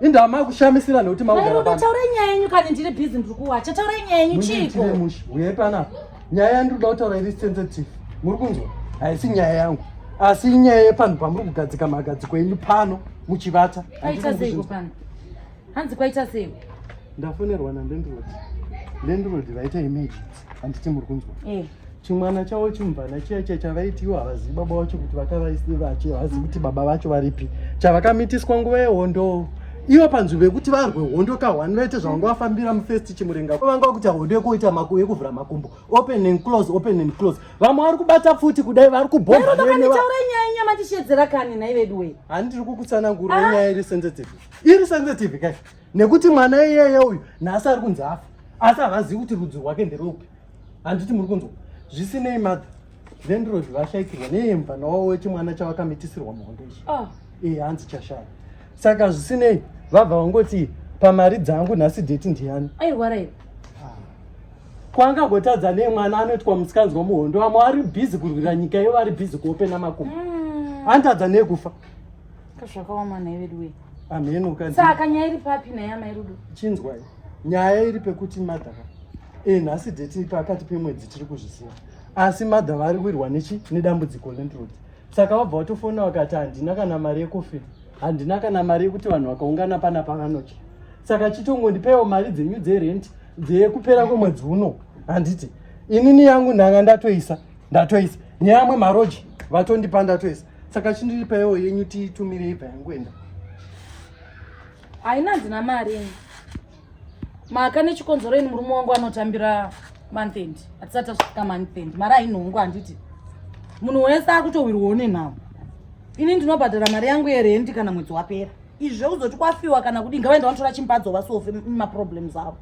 Inda amai kushamisira nekuti maugara pano. Taura nyaya yenyu kana ndiri busy ndiri kuwacha. Taura nyaya yenyu chiko. Uye pana. Nyaya yangu ndoda kutaura iri sensitive. Muri kunzwa? Haisi nyaya yangu. Asi nyaya yepanhu pamuri kugadzika magadziko enyu pano muchivata. Aita seiko pano? Hanzi kwaita seiko? Ndafonerwa na landlord. Landlord vaita emergency. Handiti muri kunzwa? Eh. chimwana chavo chimvana chiya chiya chavaiti ivo havazivi baba vacho kuti vakavaisi vachi havazivi kuti baba vacho varipi chavakamitiswa nguva yehondo ivo panzwi vekuti varwe hondo kahwani vaite zvavanga vafambira mufirst chimurenga vanga vakuita hondo yekuita maku yekuvhura makumbo open and close open and close vamwe vari kubata futi kudai vari kubhoaitaura nyaya inya matishedzera kani nhai veduwe hani tiri kukutsanangurwa ah. nyaya iri sensitive iri sensitive kai nekuti mwana iyeye uyu nhasi ari kunzi afa asi havazivi kuti rudzi rwake nderupi handiti muri kunzwa zvisinei mother vendrod vashaikirwa neyemvana wavo wechimwana chavakamitisirwa muhondo ichi ah. ee eh, hanzi chashaya saka zvisinei vabva vangoti pamari dzangu nhasi deti ndiyani airwara iri ah. kwangagotadza nemwana anoitwa musikanzwa muhondo vamwe vari bhizi kurwira nyika iyo vari bhizi kuopena makumbo hmm. antadza nekufa zvakaoma nhai veduwe amheno saka nyaya iri papi nhaya mai rudo chinzwai nyaya iri pekuti madhaka e nhasi deti pakati pemwedzi tiri kuzvisiya asi madha vari kuirwa nechi nedambudziko lendrod saka wabva watofona wakati handina kana mari yekofini handina kana mari yekuti vanhu vakaungana pana pavanocha saka chitongondipaiwo mari dzenyu dzerenti dzeyekupera kwemwedzi uno handiti inini yangu ndanga ndatoisa ndatoisa neamwe maroji vatondipa ndatoisa saka chindiripaio yenyu tiitumire ibva yanguenda haina dzina mari maka nechikonzero ini murume wangu anotambira month end hatisati tasvika month end mari ainhongo handiti munhu wese akutohwirwawo nenhau ini ndinobhadhara mari yangu yerendi kana mwedzi wapera izvi zvekuzoti kwafiwa kana kudii ngavaenda vanotora chimpadzo vasofe maproblems avo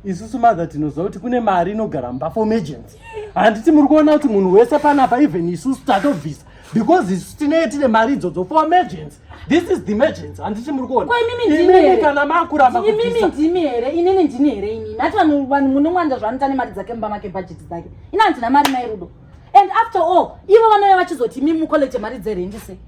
isusu mother tinoziva kuti kune mari inogara mba for emergency handiti muri kuona kuti munhu wese panapa even isusu tatobvisa because isu tinee tine mari idzodzo for emergency This is the emergency. Handisi muri kuona. Kwa imimi ndimi here? Imimi kana makuramba kubvisa. Imimi ndimi here? Inini ndini here imimi? Hati vanhu vanhu munongwanda zvanita nemari dzake mumba make budget dzake. Ina handina mari mai Rudo. And after all, ivo vanouya vachizoti imimi mucollege mari dzerendi sei?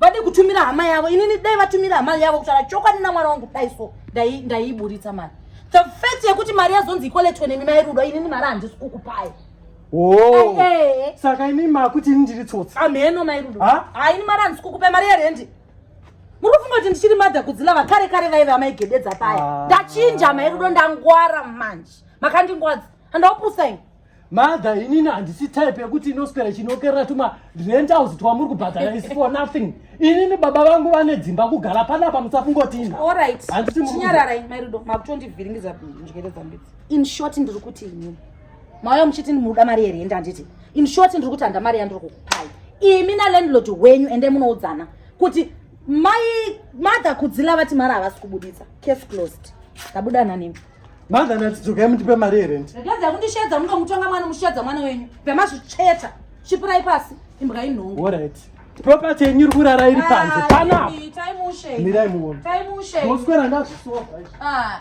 Vade kutumira hama yavo. Inini dai vatumira hama yavo kutaura chokwadi namwana wangu dai so dai ndaiburitsa mari. The fact yekuti mari yazonzi icollege nemimi mai Rudo inini mari handisi kukupai. Oh. Eh. Saka imi makuti ini ndiri tsotsi. Ameno mai Rudo. Ha? Ha ini mara ndisi kukupa mari yerendi. Muri kufunga kuti ndichiri madha kudzila vakare kare vaive amaigededza paya. Ah. Ndachinja mai Rudo ndangwara manje. Makandingwadza. Handaupusa ini. Madha inini handisi type yekuti inoswera chinokerera tuma rent house twamuri kubhadhara is for nothing. Inini baba vangu vane dzimba kugara panapa musafungoti ina. All right. Handisi muri. Chinyararai mai Rudo makutondivhiringidza njere dzambidzi. In short ndiri kuti inini. mauya muchiti muda mari yerendi handiti in short ndiri kuti handa mari yandiri kukupai imi nalandlord wenyu ende munoudzana kuti mai mother kudzila vati mari havasi kubuditsa case closed ndabuda nanimi mother ndatidzokai mutipe mari yerendi ndadza kundishedza munoda mutonga mwana mushedza mwana wenyu pemazvicheta chipirai pasi imbwa inhongo alright property yenyu iri kurara iri panze ah, panapa mirai muone moswera ndazvisoa ah.